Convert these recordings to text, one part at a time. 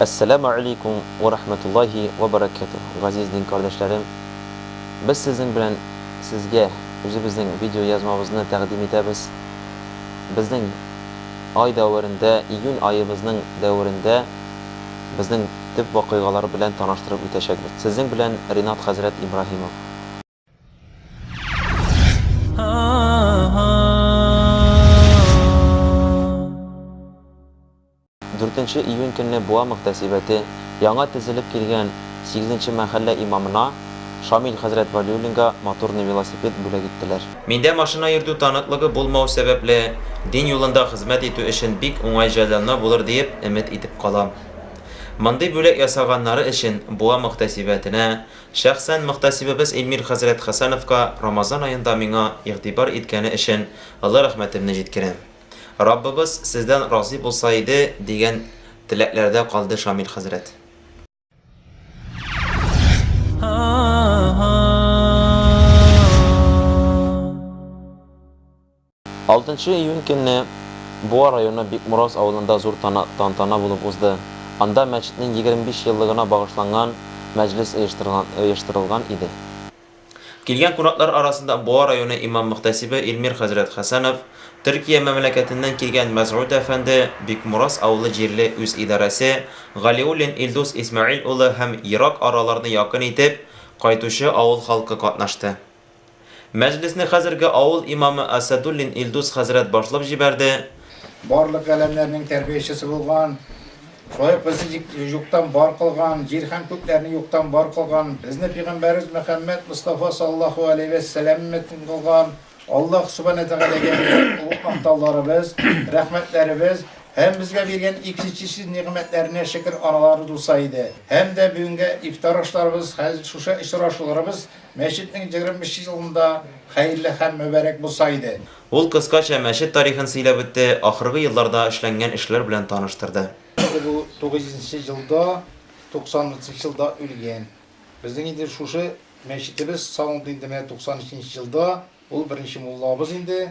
Әссәләмү әләйкүм вә рахмәтуллаһи вә бәрәкәтүһ, газиз дин кардәшләрем! Без сезнең белән сезгә үзебезнең видеоязмабызны тәкъдим итәбез. Безнең ай дәверендә, июнь аебызның дәверендә безнең төп вакыйгалар белән таныштырып үтәчәкбез. Сезнең белән Ринат хәзрәт Ибраһимов. Дүртенче июнь көнне Буа мөхтәсибәте яңа төзелеп килгән сигезенче мәхәллә имамына Шамил хәзрәт Вәлиуллинга моторный велосипед бүләк иттеләр. Миндә машина йөртү таныклыгы булмау сәбәпле, дин юлында хезмәт итү өчен бик уңай җайланма булыр диеп өмет итеп калам. Мондый бүләк ясаганнары өчен Буа мөхтәсибәтенә, Шәхсән мөхтәсибебез Илмир хәзрәт Хәсәновка Рамазан аенда миңа игътибар иткәне өчен олы рәхмәтемне җиткерәм. Раббыбыз сездән разый булса иде, дигән теләкләрдә калды Шамил хәзрәт. Алтынчы июнь көнне Буа районы Бикмороз авылында зур тантана булып узды. Анда мәчетнең егерме биш еллыгына багышланган мәҗлес оештырылган иде. Килгән кунаклар арасында Буа районы имам-мөхтәсибе Илмир хәзрәт Хәсәнов, Төркия мәмләкәтеннән килгән Мәсгуд әфәнде, Бикмороз авылы җирле үзидарәсе, Галиуллин Илдус Исмәгыйль улы һәм ерак араларны якын итеп кайтучы авыл халкы катнашты. Мәҗлесне хәзерге авыл имамы Асәдуллин Илдус хәзрәт башлап җибәрде. Барлык галәмнәрнең тәрбиячесе булган, шулай ук безне юктан бар кылган, җир һәм күкләрне юктан бар кылган, безне пигамбәребез Мөхәммәд Мостафа саллаллаһу галәйһи вә сәлам өммәтен кылган Аллаһ Сүбанә Тәгаләгә биргән олуг мактауларыбыз, рәхмәтләребез һәм безгә биргән иксичсез нигъмәтләренә шөкер аналары тулса иде. Һәм дә бүгенге ифтар ашларыбыз, хәзер шушы очрашуларыбыз Мәчетнең егерме нче елында хәерле һәм мөбарәк булса иде. Ул кыскача мәчет тарихын сөйләп үтте, ахыргы елларда эшләнгән эшләр белән таныштырды. Инде бу тугыз йөзенче елда, туксан утызынчы елда үлгән. Безнең инде шушы мәчетебез салынды инде менә туксан өченче елда. Ул беренче муллабыз инде.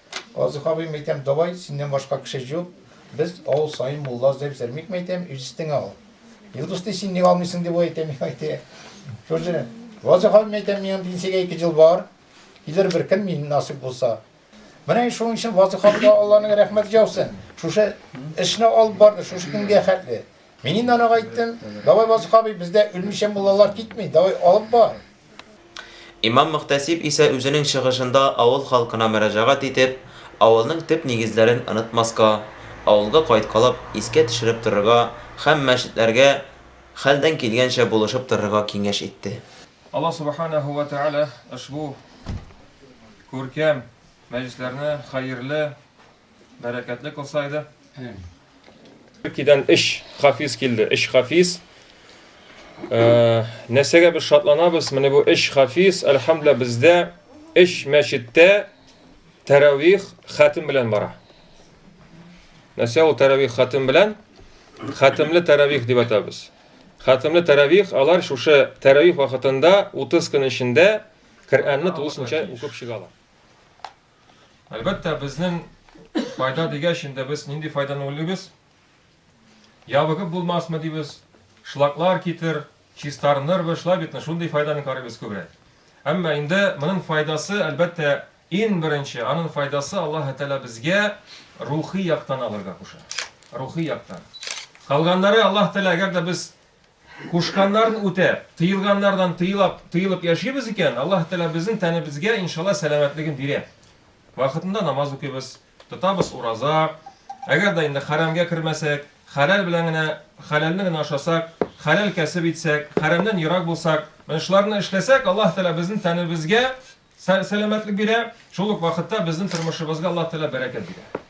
Казык абыем, әйтәм, давай, синнән башка кеше җук, без авыл саен мулла эзләп йзәрмикме, әйтәм, үз өстеңә ал. Илдус ди, син ник алмыйсың, дип ул әйтә, миңа әйтә. Шушы, Казык абыем, әйтәм, минем пенсиягә ике ел бар, килер бер көн мин, насыйп булса. Менә шуның өчен Вазыйх абыйга Алланың рәхмәте яусын, шушы эшне алып барды, шушы көнгә хәтле. Мин инде анага әйттем, давай, Вазыйх абый, бездә үлмичә муллалар китми, давай, алып бар. Имам-мөхтәсиб исә үзенең чыгышында авыл халкына мөрәҗәгать итеп, авылның төп нигезләрен онытмаска, авылга кайткалап искә төшереп торырга һәм мәчетләргә хәлдән килгәнчә булышып торырга киңәш итте. Аллаһ Субханаһу вә Тәгалә ошбу күркәм мәҗлесләрне хәерле Бәрәкәтле кылса иде. Төркиядән өч хафиз килде. Өч хафиз. Э, нәрсәгә без шатланабыз? Менә бу өч хафиз, әлхәмдүлилла, бездә өч мәчеттә тәравих хәтим белән бара. Нәрсә ул тәравих хәтим белән? Хәтимле тәравих дип атабыз. Хәтимле тәравих алар шушы тәравих вакытында 30 көн эчендә Коръәнне тулысынча укып чыгалар. Әлбәттә, безнең файда дигәч, инде без нинди файданы уйлыйбыз? Ябыгып булмасмы дибез, шлаклар китер, чистарынырбыз, шулай битме? Шундый файданы карыйбыз күбрәк. Әмма инде моның файдасы, әлбәттә, ин беренче, аның файдасы Аллаһ Тәгалә безгә рухи яктан алырга куша. Рухи яктан. Калганнары Аллаһ Тәгалә, әгәр дә без Кушканнарын үтәп, тыелганнардан тыелап, тыелып яшибез икән, Аллаһы Тәгалә безнең тәнебезгә, иншалла, сәламәтлеген бирә. Вакытында намаз укыйбыз, тотабыз ураза. Әгәр дә инде хәрәмгә кермәсәк, хәләл белән генә, хәләлне генә ашасак, хәләл кәсеп итсәк, хәрәмнән ерак булсак, менә шуларны эшләсәк, Аллаһы Тәгалә безнең тәнебезгә Сәламәтлек бирә, шул ук вакытта безнең тормышыбызга Аллаһ Тәгалә бәрәкәт бирә.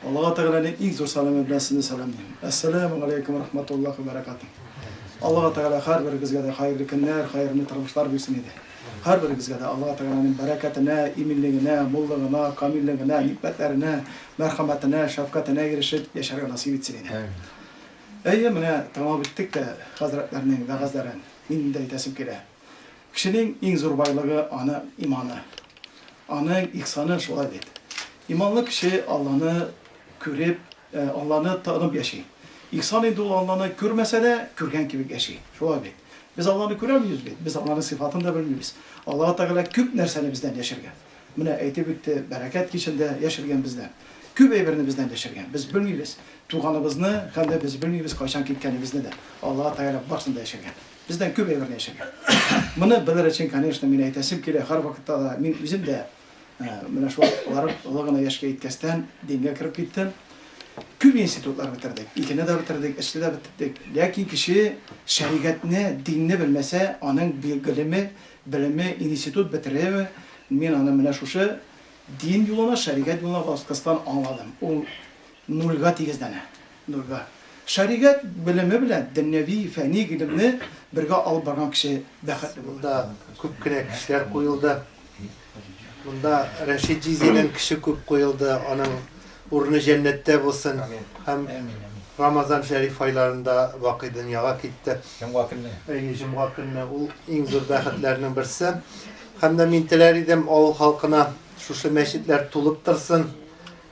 Аллага Тәгаләнең иң зур сәламе белән сезне сәламлим. Әссәләмү галәйкүм вә рахмәтуллаһи вә бәрәкәтүһ. Аллага Тәгалә һәрберегезгә дә хәерле көннәр, хәерле тормышлар бирсен иде. Һәрберегезгә дә Аллага Тәгаләнең бәрәкәтенә, иминлегенә, муллыгына, камиллегенә, никъмәтләренә, мәрхәмәтенә, шәфкатенә ирешеп яшәргә насыйп итсен иде. Әйе, менә тәмам иттек тә хәзрәтләрнең вәгазьләрен. Минем дә әйтәсем килә. Кешенең иң зур байлыгы, аны иманы. Аның ихсаны шулай бит. Иманлы кеше Алланы күреп, Алланы танып яши. Ихсан инде ул Алланы күрмәсә дә, күргән кебек яши. Шулай бит. Без Алланы күрәлмибез бит, без Алланың сыйфатын да белмибез. Аллаһы Тәгалә күп нәрсәне бездән яшергән. Менә әйтеп үтте, бәрәкәт кичен дә яшергән бездән. Күп әйберне бездән яшергән. Без белмибез туганыбызны һәм дә без белмибез кайчан киткәнебезне дә. Аллаһы Тәгалә барсын да яшергән. Бездән күп әйбер дәшәгән. Моны белер өчен, конечно, мин әйтәсем килә, һәрвакытта да мин үзем дә менә шул барып олы гына яшькә иткәстән дингә кереп киттем. Күп институтлар бетердек, икене дә бетердек, өчне дә бетердек. Ләкин кеше шәригатьне, динне белмәсә, аның гыйлеме, белеме, институт бетереме, мин аны менә шушы дин юлына, шәригать юлына баскыстан аңладым. Ул нульга тигезләнә. Нурга. Шәригать белеме белән дөньяви, фәни гыйлемне бергә алып барган кеше бәхетле булыр. Монда күп кенә кешеләр куелды. Монда Рәшит җизидән кеше күп куелды, аның урыны җәннәттә булсын. Һәм Рамазан шәриф айларында бакый дөньяга китте. Җомга көнне. Әйе, җомга көнне. Ул иң зур бәхетләрнең берсе. Һәм дә мин теләр идем, авыл халкына шушы мәчетләр тулып торсын,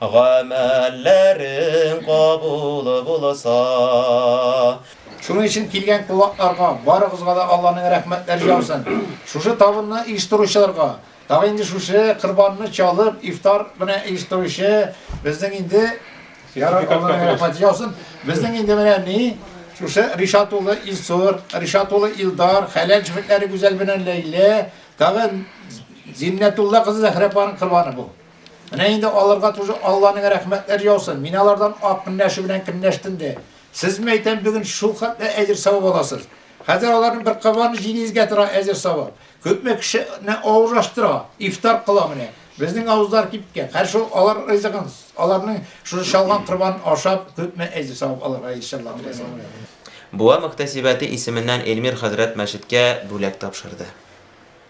Гамәлләрең кабул булса. Шуның өчен килгән кунакларга барыгызга да Алланың рәхмәтләре яусын. Шушы табынны оештыручыларга, тагы инде шушы корбанны чалып, ифтар белән оештыручы безнең инде Ярар Алланың рәхмәте яусын. Безнең инде менә ни шушы Ришат улы Илсур, Ришат улы Илдар, хәләл җефетләре Гүзәл белән Ләйлә, тагы Зиннәтулла кызы Зәхрәпаның корбаны бу. Менә инде аларга тоже Алланың рәхмәтләр яусын. Мин алардан ак көнләшү белән көнләштем дә. Сезме әйтәм, бүген шул хәтле әҗер савап аласыз. Хәзер аларның бер кабаны җилегезгә тора әҗер савап. Күпме кешене авыз ачтыра, ифтар кыла менә. Безнең авызлар кипкән. Хәзер шул алар ризыгын, аларның шул чалган корбанын ашап, күпме әҗер савап алырга иншалла теләсә. Буа мөхтәсибәте исеменнән Эльмир хәзрәт мәчеткә бүләк тапшырды.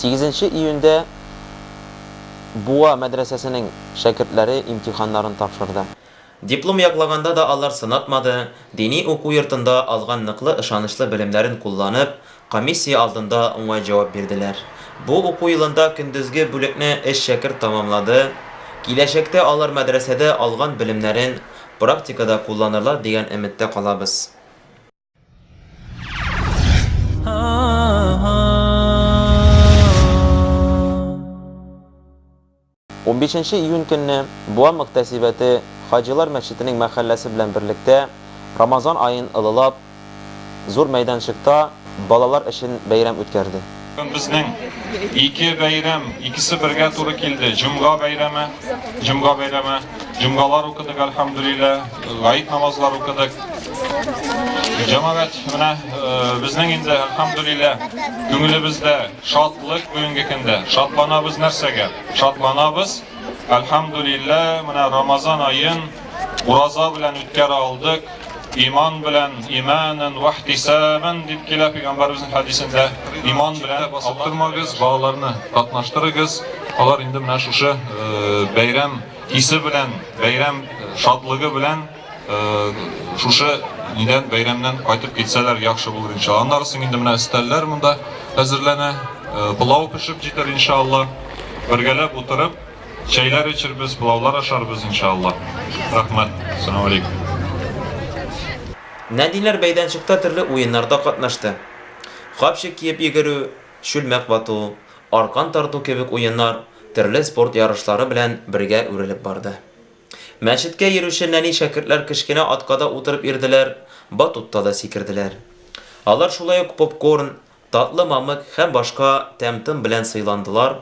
Сигезенче июньдә Буа мәдрәсәсенең шәкертләре имтиханнарын тапшырды. Диплом яклаганда да алар сынатмады, дини уку йортында алган ныклы ышанычлы белемнәрен кулланып, Комиссия алдында уңай җавап бирделәр. Бу уку елында көндезге бүлекне өч шәкерт тәмамлады. Киләчәктә алар мәдрәсәдә алган белемнәрен практикада кулланырлар дигән өметтә калабыз. Унбишенче июнь көнне Буа мөгтәсибәте Хаҗилар мәчетенең мәхәлләсе белән берлектә Рамазан аен ылылап, зур мәйданчыкта балалар өчен бәйрәм үткәрде. Безнең ике бәйрәм, икесе бергә туры килде, җомга бәйрәме, җомга бәйрәме, җомгалар укыдык, әлхәмдүлилләһ, гает намазлар укыдык. Җәмәгать, менә безнең инде, әлхәмдүлилләһ, күңелебездә. Шатлык бүгенге көндә. Шатланабыз нәрсәгә? Шатланабыз, Әлхәмдүлиллә, менә Рамазан аен ураза белән үткәрә алдык, иман белән, имәнән вә ихтисабән дип килә Пәйгамбәребезнең хәдисендә. Иман белән аптырмагыз, балаларны катнаштырыгыз, алар инде менә шушы бәйрәм исе белән, бәйрәм шатлыгы белән. Шушы нидән бәйрәмнән кайтып китсәләр яхшы булыр иншалла. Аннары соң инде менә өстәлләр монда әзерләнә. Пылау пешеп җитәр иншалла. Бергәләп утырып, чәйләр эчербез, пылаулар ашарбыз иншалла. Рәхмәт. Салам алейкум. Нәниләр мәйданчыкта төрле уеннарда катнашты. Капчык киеп йөгерү, чүлмәк вату, аркан тарту кебек уеннар төрле спорт ярышлары белән бергә үрелеп барды. Мәчеткә йөрүче нәни шәкертләр кечкенә атка да утырып йөрделәр, батутта да сикерделәр. Алар шулай ук попкорн, татлы мамык һәм башка тәм-том белән сыйландылар.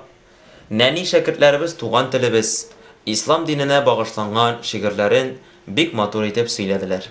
Нәни шәкертләребез туган телебез, ислам диненә багышланган шигырьләрен бик матур итеп сөйләделәр.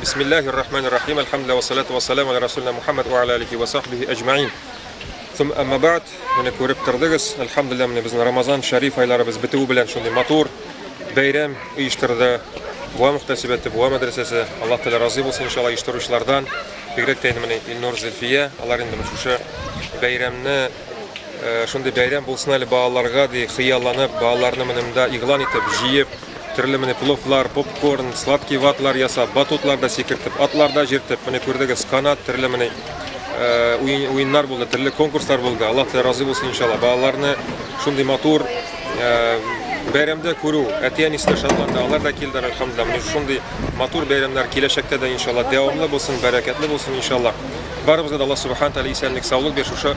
Бисмиллахи рахмани рахим. Алхамдулиллах ва салату ва салам аля расулина Мухаммад ва аля алихи ва сахбихи аҗмаин. Сум әмма баат, менә күреп тордыгыз, алхамдулиллах, менә безнең Рамазан шәриф айларыбыз бетүе белән шундый матур бәйрәм оештырды. Буа мөхтәсибәте, Буа мәдрәсәсе, Аллаһ Тәгалә разый булсын иншалла оештыручылардан. Бигрәк тә инде менә Илнур Зөлфия, алар инде менә шушы бәйрәмне шундый бәйрәм булсын әле балаларга ди хыялланып, балаларны менә монда игълан итеп, җыеп, Төрле менә пловлар, попкорн, сладкий ватлар ясап, батутларда сикертеп, атларда җиртеп, менә күрдегез, канат, төрле менә уен, уеннар булды, төрле конкурслар булды. Аллаһ Тәгалә разый булсын иншалла. Балаларны шундый матур бәйрәмдә күрү, әти-әнисе дә шатланды, алар да килде, әлхәмдулилла. Менә шундый матур бәйрәмнәр киләчәктә дә иншалла дәвамлы булсын, бәрәкәтле булсын иншалла. Барыбызга да Аллаһ Субхаһу Тәгалә исәнлек, саулык бирсен. Шушы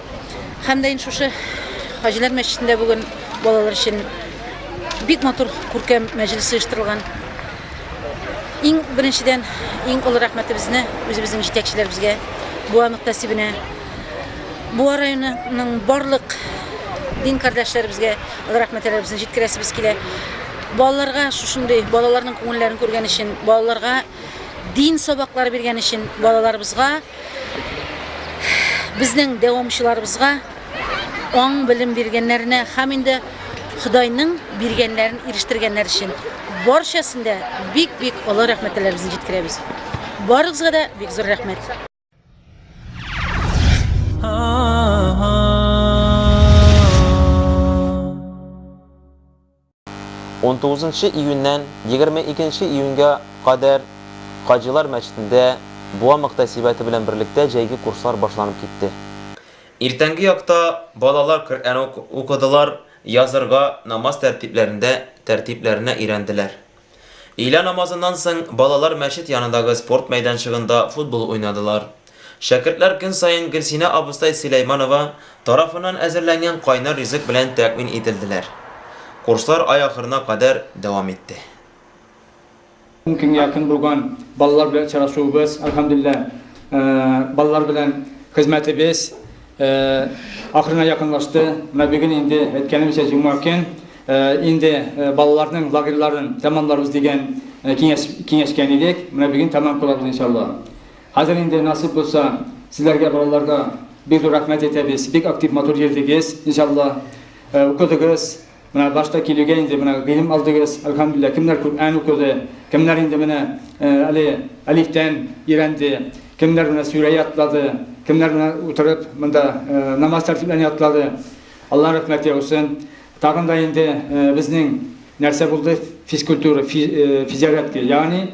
Һәм дә инде шушы Хаҗилар мәчетендә бүген балалар өчен бик матур күркәм мәҗлес оештырылган. Иң беренчедән, иң олы рәхмәтебезне үзебезнең җитәкчеләребезгә, Буа мөхтәсибенә, Буа районының барлык дин кардәшләребезгә олы рәхмәтләребезне җиткерәсебез килә. Балаларга шушындый балаларның күңелләрен күргән өчен, балаларга дин сабаклары биргән өчен, балаларыбызга Безнең дәвамчыларыбызга аң белем биргәннәренә һәм инде Ходайның биргәннәрен ирештергәннәр өчен барчасын да бик-бик олы рәхмәтләребезне җиткерәбез. Барыгызга да бик зур рәхмәт. 19 нчы июньнән 22 нче июньгә кадәр Хаҗилар мәчетендә Буа мөхтәсибәте белән берлектә җәйге курслар башланып китте. Иртәнге якта балалар Коръән укыдылар, язырга, намаз тәртипләрендә тәртипләренә өйрәнделәр. Өйлә намазыннан соң балалар мәчет янындагы спорт мәйданчыгында футбол уйнадылар. Шәкертләр көн саен Гөлсинә абыстай Сөләйманова тарафыннан әзерләнгән кайнар ризык белән тәэмин ителделәр. Курслар ай ахырына кадәр дәвам итте. Ун көнгә якын булган балалар белән очрашуыбыз, әлхәмдүлилләһ, балалар белән хезмәтебез Ахырына якынлашты. Менә бүген инде әйткәнемчә җомга көн инде балаларның лагерьларын тәмамларбыз дигән киңәш киңәшкән идек. Менә бүген тәмам кылабыз иншалла. Хәзер инде насыйп булса сезләргә балаларга бик зур рәхмәт әйтәбез. Бик актив матур йөрдегез иншалла. Укыдыгыз. Менә башта килүгә инде менә гыйлем алдыгыз, әлхәмдүлилләһ, кемнәр Күръән укыды, кемнәр инде менә әле әлифтән өйрәнде, кемнәр менә сүрә ятлады, кемнәр менә утырып монда намаз тәртипләрен ятлады. Алла рәхмәт яусын. Тагын да инде безнең нәрсә булды, физкультура, физиорядка, ягъни,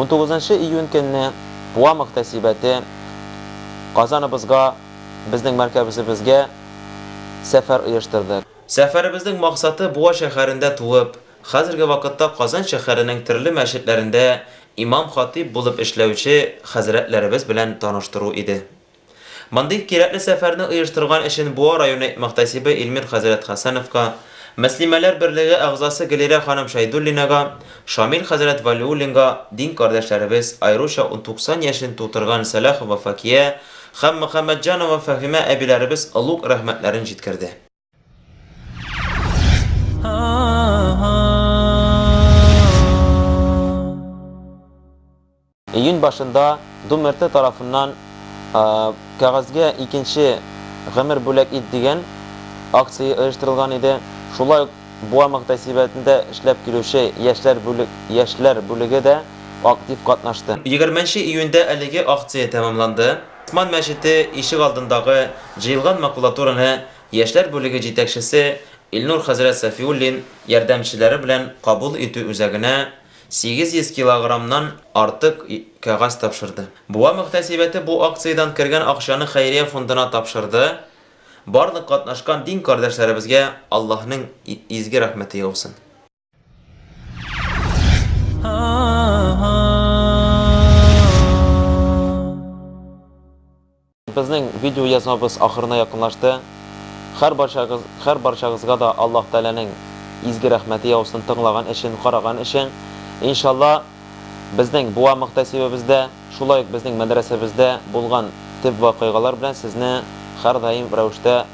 Он тугызынчы июнь көнне Буа мөхтәсибәте Казаныбызга, безнең мәркәбезебезгә сәфәр оештырды. Сәфәребезнең максаты Буа шәһәрендә туып, хәзерге вакытта Казан шәһәренең төрле мәчетләрендә имам-хатыйб булып эшләүче хәзрәтләребез белән таныштыру иде. Мондый кирәкле сәфәрне оештырган өчен Буа районы мөхтәсибе Илмир хәзрәт Хәсәновка, Мөслимәләр берлеге әгъзасы Гөлирә ханым Шәйдуллинага, Шамил хәзрәт Вәлиуллинга, дин кардәшләребез, аеруча ун туксан яшен тутырган Сәлахова Факия һәм Мөхәммәтҗанова Фәһимә әбиләребез олуг рәхмәтләрен җиткерде. Июнь башында Думерте тарафыннан кәгазьгә икенче гомер бүләк ит дигән акция оештырылган иде. Шулай ук Буа мөхтәсибәтендә эшләп килүче яшьләр бүлек, яшьләр бүлеге дә актив катнашты. Егерменче июньдә әлеге акция тәмамланды. Усман мәчете ишек алдындагы җыелган макулатураны яшьләр бүлеге җитәкчесе Илнур хәзрәт Сафиуллин ярдәмчеләре белән кабул итү үзәгенә 800 килограммнан артык кәгазь тапшырды. Буа мөхтәсибәте бу акциядән кергән акчаны хәйрия фондына тапшырды. Барлык катнашкан дин кардәшләребезгә Аллаһның изге рәхмәте яусын. Безнең видео язмабыз ахырына якынлашты. Хәр барчагыз, хәр барчагызга да Аллаһ Тәгаләнең изге рәхмәте яусын тыңлаган өчен, караган өчен. Иншалла, безнең буа мөхтәсибебездә, шулай ук безнең мәдрәсәбездә булган төп вакыйгалар белән сезне һәрдаим рәвештә